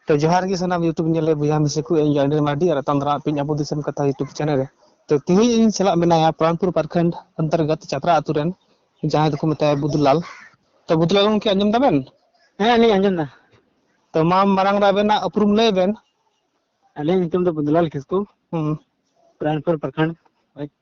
ᱛᱚ ᱡᱚᱦᱟᱨ ᱜᱮ ᱥᱟᱱᱟᱢ ᱭᱩᱴᱩᱵᱽ ᱧᱮᱞᱮ ᱵᱚᱭᱦᱟ ᱢᱤᱥᱮ ᱠᱚ ᱤᱧ ᱟᱹᱰᱤ ᱢᱟᱹᱰᱤ ᱟᱨ ᱨᱟᱛᱟᱱ ᱫᱟᱨᱟ ᱯᱤᱧ ᱟᱵᱚ ᱫᱤᱥᱚᱢ ᱠᱟᱛᱷᱟ ᱭᱩᱴᱩᱵᱽ ᱪᱮᱱᱮᱞ ᱨᱮ ᱛᱚ ᱛᱮᱦᱮᱧ ᱤᱧ ᱥᱟᱞᱟᱜ ᱢᱮᱱᱟᱭᱟ ᱯᱨᱟᱱᱯᱩᱨ ᱯᱟᱨᱠᱷᱚᱸᱰ ᱚᱱᱛᱚᱨᱜᱚᱛ ᱪᱟᱛᱨᱟ ᱟᱛᱳ ᱨᱮᱱ ᱡᱟᱦᱟᱸᱭ ᱫᱚᱠᱚ ᱢᱮᱛᱟᱭᱟ ᱵᱩᱫᱩᱞᱟᱞ ᱛᱚ ᱵᱩᱫᱩᱞᱟᱞ ᱜᱚᱢᱠᱮ ᱟᱸᱡᱚᱢ ᱫᱟᱵᱮᱱ ᱦᱮᱸ ᱟᱹᱞᱤᱧ ᱟᱸᱡᱚᱢ ᱫᱟ ᱛᱚ ᱢᱟ ᱢᱟᱨᱟᱝ ᱨᱮ ᱟᱵᱮᱱᱟᱜ ᱩᱯᱨᱩᱢ ᱞᱟᱹᱭ ᱵᱮᱱ ᱟᱹᱞᱤᱧ ᱧᱩᱛᱩᱢ ᱫᱚ ᱵᱩᱫᱩᱞᱟᱞ ᱠᱤᱥᱠᱩ ᱦᱩᱸ ᱯᱨᱟᱱᱯᱩᱨ ᱯᱨᱚᱠᱷᱚᱸᱰ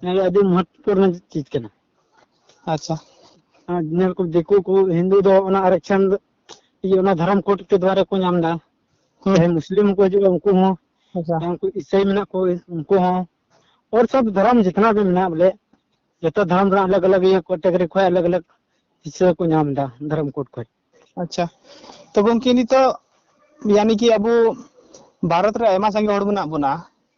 ᱱᱚᱣᱟ ᱫᱚ ᱟᱹᱰᱤ ᱢᱚᱦᱚᱛᱛᱚ ᱨᱮᱱᱟᱜ ᱪᱤᱡᱽ ᱠᱟᱱᱟ ᱟᱪᱪᱷᱟ ᱟᱨ ᱧᱮᱞ ᱠᱚ ᱫᱤᱠᱩ ᱠᱚ ᱦᱤᱱᱫᱩ ᱫᱚ ᱚᱱᱟ ᱟᱨᱮᱠᱥᱟᱱ ᱫᱚ ᱤᱭᱟᱹ ᱚᱱᱟ ᱫᱷᱚᱨᱚᱢ ᱠᱳᱰ ᱠᱮ ᱫᱩᱣᱟᱨᱟ ᱠᱚ ᱧᱟᱢ ᱮᱫᱟ ᱦᱩᱸ ᱡᱟᱦᱟᱸᱭ ᱢᱩᱥᱞᱤᱢ ᱦᱚᱸᱠᱚ ᱦᱤᱡᱩᱜᱼᱟ ᱩᱱᱠᱩ ᱦᱚᱸ ᱟᱪᱪᱷᱟ ᱡᱟᱦᱟᱸᱭ ᱩᱱᱠᱩ ᱤᱥᱟᱹᱭ ᱢᱮᱱᱟᱜ ᱠᱚ ᱩᱱᱠᱩ ᱦᱚᱸ ᱚᱨ ᱥᱚᱵ ᱫᱷᱚᱨᱚᱢ ᱡᱤᱛᱱᱟ ᱵᱷᱤ ᱢᱮᱱᱟᱜ ᱵᱚᱞᱮ ᱡᱚᱛᱚ ᱫᱷᱚᱨᱚᱢ ᱨᱮᱱᱟᱜ ᱟᱞᱟᱜᱽ ᱟᱞᱟᱜᱽ ᱤᱭᱟᱹ ᱠᱮᱴᱮᱜᱚᱨᱤ ᱠᱷᱚᱡ ᱟᱞᱟᱜᱽ ᱟᱞᱟᱜᱽ ᱦᱤᱥᱟᱹ ᱠᱚ ᱧᱟᱢ ᱮᱫᱟ ᱫᱷᱚᱨᱚᱢ ᱠᱳᱰ ᱠᱷᱚᱡ ᱟᱪᱪᱷᱟ ᱛᱚ ᱜᱚᱝᱠᱮ ᱱᱤᱛᱚᱜ ᱭᱟᱱᱤ ᱠᱤ ᱟᱵᱚ ᱵᱷᱟᱨᱚᱛ ᱨᱮ ᱟᱭᱢᱟ ᱥᱟᱸᱜᱮ ᱦᱚᱲ ᱢᱮᱱᱟᱜ ᱵᱚᱱᱟ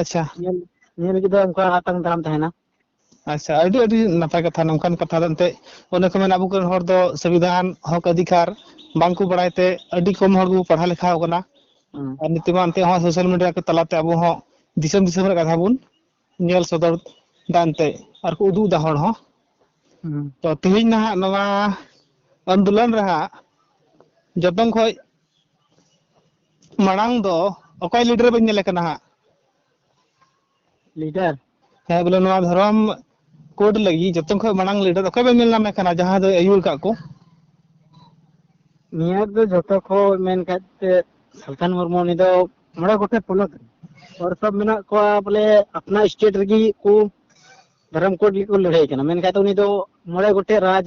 ᱟᱪᱪᱷᱟ ᱧᱮᱞ ᱧᱮᱞ ᱞᱟᱹᱜᱤᱫ ᱫᱚ ᱚᱱᱠᱟ ᱟᱛᱟᱝ ᱫᱟᱨᱟᱢ ᱛᱟᱦᱮᱱᱟ ᱟᱪᱪᱷᱟ ᱟᱹᱰᱤ ᱟᱹᱰᱤ ᱱᱟᱯᱟᱭ ᱠᱟᱛᱷᱟ ᱱᱚᱝᱠᱟᱱ ᱠᱟᱛᱷᱟ ᱫᱚ ᱮᱱᱛᱮᱫ ᱚᱱᱮ ᱠᱚ ᱢᱮᱱᱟ ᱟᱵᱚ ᱠᱚᱨᱮᱱ ᱦᱚᱲ ᱫᱚ ᱥᱚᱝᱵᱤᱫᱷᱟᱱ ᱦᱚᱠ ᱚᱫᱷᱤᱠᱟᱨ ᱵᱟᱝᱠᱚ ᱵᱟᱲᱟᱭ ᱛᱮ ᱟᱹᱰᱤ ᱠᱚᱢ ᱦᱚᱲ ᱜᱮᱵᱚ ᱯᱟᱲᱦᱟᱣ ᱞᱮᱠᱷᱟ ᱠᱟᱱᱟ ᱦᱩᱸ ᱟᱨ ᱱᱤᱛᱚᱜ ᱢᱟ ᱮᱱᱛᱮᱫ ᱦᱚᱸ ᱥᱳᱥᱟᱞ ᱢᱤᱰᱤᱭᱟ ᱠᱚ ᱛᱟᱞᱟᱛᱮ ᱟᱵᱚ ᱦᱚᱸ ᱫᱤᱥᱚᱢ ᱫᱤᱥᱚᱢ ᱨᱮ ᱠᱟᱛᱷᱟ ᱵᱚᱱ ᱧᱮᱞ ᱥᱚᱫᱚᱨ ᱫᱟ ᱮᱱᱛᱮᱫ ᱟᱨ ᱠᱚ ᱩᱫᱩᱜ ᱮᱫᱟ ᱦᱚᱲ ᱦᱚᱸ ᱦᱩᱸ ᱛᱚ ᱛᱮᱦᱮᱧ ᱱᱟᱦᱟᱜ ᱱᱚᱣᱟ ᱟᱱᱫᱳᱞᱚᱱ ᱨᱮ ᱦᱟᱸᱜ ᱡᱚᱛᱚᱱ ᱠᱷᱚᱡ ᱢᱟᱲᱟᱝ ᱫᱚ ᱚᱠᱚᱭ ᱞᱤᱰᱟᱨ ᱵᱮᱱ ᱧᱮᱞᱮ ᱠᱟᱱᱟ ᱦᱟᱸᱜ ᱞᱤᱰᱟᱨ ᱦᱮᱸ ᱵᱚᱞᱮ ᱱᱚᱣᱟ ᱫᱷᱚᱨᱚᱢ ᱠᱳᱰ ᱞᱟᱹᱜᱤᱫ ᱡᱚᱛᱚ ᱠᱷᱚᱱ ᱢᱟᱲᱟᱝ ᱞᱤᱰᱟᱨ ᱚᱠᱚᱭ ᱵᱮᱱ ᱧᱮᱞ ᱧᱟᱢᱮ ᱠᱟᱱᱟ ᱡᱟᱦᱟᱸ ᱫᱚᱭ ᱟᱹᱭᱩᱨ ᱠᱟᱜ ᱠᱚ ᱱᱤᱭᱟᱹ ᱫᱚ ᱡᱚᱛᱚ ᱠᱷᱚᱱ ᱢᱮᱱ ᱠᱷᱟᱡ ᱛᱮ ᱥᱟᱞᱠᱷᱟᱱ ᱢᱩᱨᱢᱩ ᱩᱱᱤ ᱫᱚ ᱢᱚᱬᱮ ᱜᱚᱴᱮᱡ ᱯᱚᱱᱚᱛ ᱨᱮ ᱦᱚᱲ ᱥᱚᱵ ᱢᱮᱱᱟᱜ ᱠᱚᱣᱟ ᱵᱚᱞᱮ ᱟᱯᱱᱟ ᱥᱴᱮᱴ ᱨᱮᱜᱮ ᱠᱚ ᱫᱷᱚᱨᱚᱢ ᱠᱳᱰ ᱞᱟᱹᱜᱤᱫ ᱠᱚ ᱞᱟᱹᱲᱦᱟᱹᱭ ᱠᱟᱱᱟ ᱢᱮᱱᱠᱷᱟᱡ ᱫᱚ ᱩᱱᱤ ᱫᱚ ᱢᱚᱬᱮ ᱜᱚᱴᱮᱡ ᱨᱟᱡᱽ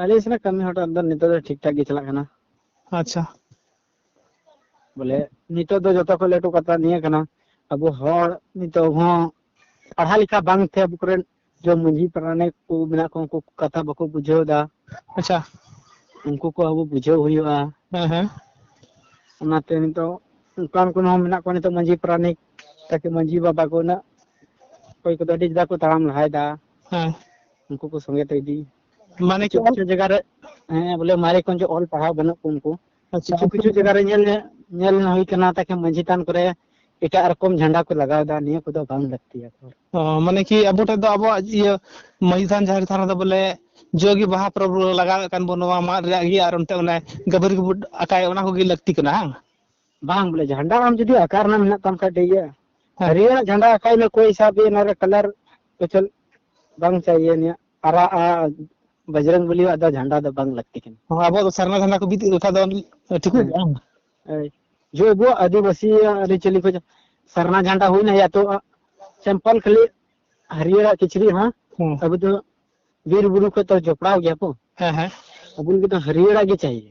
ᱟᱞᱮ ᱥᱮᱱᱟᱜ ᱠᱟᱹᱢᱤ ᱦᱚᱴᱟᱛ ᱫᱚ ᱱᱤᱛᱚᱜ ᱫᱚ ᱴᱷᱤᱠ ᱴᱷᱟᱠ ᱜᱮ ᱪᱟᱞᱟᱜ ᱠᱟᱱᱟ ᱟᱪᱪᱷᱟ ᱵᱚᱞᱮ ᱱᱤᱛᱚᱜ ᱫᱚ ᱡᱚᱛᱚ ᱠᱷᱚᱱ ᱞᱟᱹᱴᱩ ᱠᱟᱛᱷᱟ ᱱᱤᱭᱟᱹ ᱠᱟᱱᱟ ᱟᱵᱚ ᱦᱚᱲ ᱱᱤᱛᱚᱜ ᱦᱚᱸ ᱯᱟᱲᱦᱟᱣ ᱞᱮᱠᱟ ᱵᱟᱝ ᱛᱮ ᱟᱵᱚ ᱠᱚᱨᱮᱱ ᱡᱚ ᱢᱟᱺᱡᱷᱤ ᱯᱟᱨᱟᱱᱤᱠ ᱠᱚ ᱢᱮᱱᱟᱜ ᱠᱚ ᱩᱱᱠᱩ ᱠᱟᱛᱷᱟ ᱵᱟᱠᱚ ᱵᱩᱡᱷᱟᱹᱣ ᱮᱫᱟ ᱟᱪᱪᱷᱟ ᱩᱱᱠᱩ ᱠᱚ ᱟᱵᱚ ᱵᱩᱡᱷᱟᱹᱣ ᱦᱩᱭᱩᱜᱼᱟ ᱦᱮᱸ ᱦᱮᱸ ᱚᱱᱟᱛᱮ ᱱᱤᱛᱚᱜ ᱚᱱᱠᱟᱱ ᱠᱚ ᱦᱚᱸ ᱢᱮᱱᱟᱜ ᱠᱚᱣᱟ ᱱᱤᱛᱚᱜ ᱢᱟᱺᱡᱷᱤ ᱯᱟᱨᱟᱱᱤᱠ ᱛᱟᱠᱤ ᱢᱟᱺᱡᱷᱤ ᱵᱟᱵᱟ ᱠᱚ ᱩᱱᱟᱹᱜ ᱚᱠᱚᱭ ᱠᱚᱫᱚ ᱟᱹᱰᱤ ᱡᱩᱫᱟ ᱠᱚ ᱛᱟᱲᱟᱢ ᱞᱟᱦᱟᱭᱮᱫᱟ ᱦᱮᱸ ᱩᱱᱠᱩ ᱠᱚ ᱥᱚᱸᱜᱮ ᱛᱮ ᱤᱫᱤ ᱢᱟᱱᱮ ᱠᱤᱪᱷᱩ ᱠᱤᱪᱷᱩ ᱡᱟᱭᱜᱟ ᱨᱮ ᱦᱮᱸ ᱵᱚᱞᱮ ᱢᱟᱨᱮ ᱠᱷᱚᱱ ᱡᱮ ᱚᱞ ᱯᱟᱲᱦᱟᱣ ᱵᱟᱹᱱᱩᱜ ᱠᱚ ᱩᱱᱠᱩ ᱟᱪᱪᱷᱟ ᱠᱤᱪᱷᱩ ᱠᱤᱪᱷᱩ ᱡᱟᱭᱜᱟ ᱨᱮ ᱧᱮᱞ ᱧᱮᱞ ᱦᱩᱭ ᱠᱟᱱᱟ ᱛᱟᱠᱮ ᱢᱟᱹᱡᱷᱤ ᱛᱷᱟᱱ ᱠᱚᱨᱮ ᱮᱴᱟᱜ ᱨᱚᱠᱚᱢ ᱡᱷᱟᱱᱰᱟ ᱠᱚ ᱞᱟᱜᱟᱣ ᱮᱫᱟ ᱱᱤᱭᱟᱹ ᱠᱚᱫᱚ ᱵᱟᱝ ᱞᱟᱹᱠᱛᱤᱭᱟ ᱢᱟᱱᱮ ᱠᱤ ᱟᱵᱚ ᱴᱷᱮᱱ ᱫᱚ ᱟᱵᱚᱣᱟᱜ ᱤᱭᱟᱹ ᱢᱟᱹᱡᱷᱤ ᱛᱷᱟᱱ ᱡᱟᱦᱮᱨ ᱛᱷᱟᱱ ᱨᱮᱫᱚ ᱵᱚᱞᱮ ᱡᱚᱜᱮ ᱵᱟᱦᱟ ᱯᱚᱨᱚᱵᱽ ᱞᱟᱜᱟᱣᱮᱫ ᱠᱟᱱ ᱵᱚᱱ ᱱᱚᱣᱟ ᱢᱟᱫ ᱨᱮᱭᱟᱜ ᱜᱮ ᱟᱨ ᱚᱱᱛᱮ ᱚᱱᱮ ᱜᱟᱹᱵᱟᱹᱨᱤ ᱠᱚᱵᱚ ᱟᱠᱟᱭ ᱚᱱᱟ ᱠᱚᱜᱮ ᱞᱟᱹᱠᱛᱤ ᱠᱟᱱᱟ ᱵᱟᱝ ᱵᱟᱝ ᱵᱚᱞᱮ ᱡᱷᱟᱱᱰᱟ ᱟᱢ ᱡᱩᱫᱤ ᱟᱠᱟᱨ ᱨᱮᱱᱟᱜ ᱢᱮᱱᱟᱜ ᱛᱟᱢ ᱠᱷᱟᱡ ᱴᱷᱤᱠ ᱜᱮᱭᱟ ᱦᱮᱸ ᱦᱟᱹᱨᱭᱟᱹᱲ ᱡᱷᱟᱱᱰᱟ ᱟᱠᱟᱭ ᱢᱮ ᱠᱚᱭ ᱦᱤᱥᱟᱵ ᱜᱮ ᱱᱚᱨᱮ ᱠᱟᱞᱟᱨ ᱯᱮᱪᱚᱞ ᱵᱟᱝ ᱪᱟᱦᱤᱭᱮ ᱱᱤᱭᱟ ᱟᱨᱟ ᱟ ᱵᱟᱡᱨᱚᱝ ᱵᱚᱞᱤ ᱟᱜ ᱫᱚ ᱡᱷᱟᱱᱰᱟ ᱫᱚ ᱵᱟᱝ ᱞᱟᱹᱠᱛᱤ ᱠᱟᱱᱟ ᱦᱚᱸ ᱟᱵᱚ ᱫᱚ ᱥᱟᱨᱱᱟ ᱡᱷᱟᱱᱰᱟ ᱠᱚ ᱵᱤᱫ ᱞᱮᱠᱷᱟᱡ ᱫᱚ ᱴᱷᱤᱠᱚᱜ ᱜᱮᱭᱟ ᱵᱟᱝ? ᱮᱭ, ᱡᱚ ᱟᱵᱚ ᱟᱹᱫᱤᱵᱟᱹᱥᱤ ᱟᱹᱨᱤᱪᱟᱹᱞᱤ ᱠᱚ ᱥᱟᱨᱱᱟ ᱡᱷᱟᱱᱰᱟ ᱦᱩᱭᱱᱟ ᱭᱟ ᱛᱚ ᱥᱮᱢᱯᱚᱞ ᱠᱷᱟᱹᱞᱤ ᱦᱟᱹᱨᱭᱟᱹᱲ ᱟᱜ ᱠᱤᱪᱨᱤᱡ ᱦᱚᱸ ᱦᱮᱸ ᱟᱵᱚ ᱫᱚ ᱵᱤᱨ ᱵᱩᱨᱩ ᱠᱷᱚᱡ ᱛᱚ ᱡᱚᱯᱲᱟᱣ ᱜᱮᱭᱟ ᱠᱚ ᱦᱮᱸ ᱦᱮᱸ ᱟᱵᱚ ᱞᱟᱹᱜᱤᱫ ᱫᱚ ᱦᱟᱹᱨᱭᱟᱹᱲ ᱟᱜ ᱜᱮ ᱪᱟᱦᱤᱭᱮ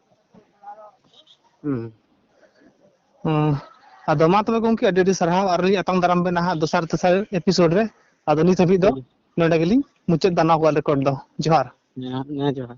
ᱦᱩᱸ ᱦᱩᱸ ᱟᱫᱚ ᱢᱟ ᱛᱚᱵᱮ ᱜᱚᱝᱠᱮ ᱟᱹᱰᱤ ᱟᱹᱰᱤ ᱥᱟᱨᱦᱟᱣ ᱟᱨ ᱞᱤᱧ ᱟᱛᱟᱝ ᱫᱟᱨᱟᱢ ᱵᱮᱱᱟ ᱦᱟᱸᱜ ᱫᱚᱥᱟᱨ ᱛᱮᱥᱟᱨ ᱮᱯᱤᱥᱳᱰ ᱨᱮ ᱟᱫᱚ ᱱᱤᱛ ᱦᱟᱹᱵᱤᱡ ᱫᱚ ᱱᱚᱰᱮ ᱜᱮᱞᱤᱧ ᱢᱩᱪᱟᱹᱫ ᱫᱟᱱᱟ ᱠᱚᱣᱟ ᱨᱮᱠᱚᱨᱰ ᱫᱚ ᱡᱚᱦᱟᱨ ᱦᱮᱸ ᱡᱚᱦᱟᱨ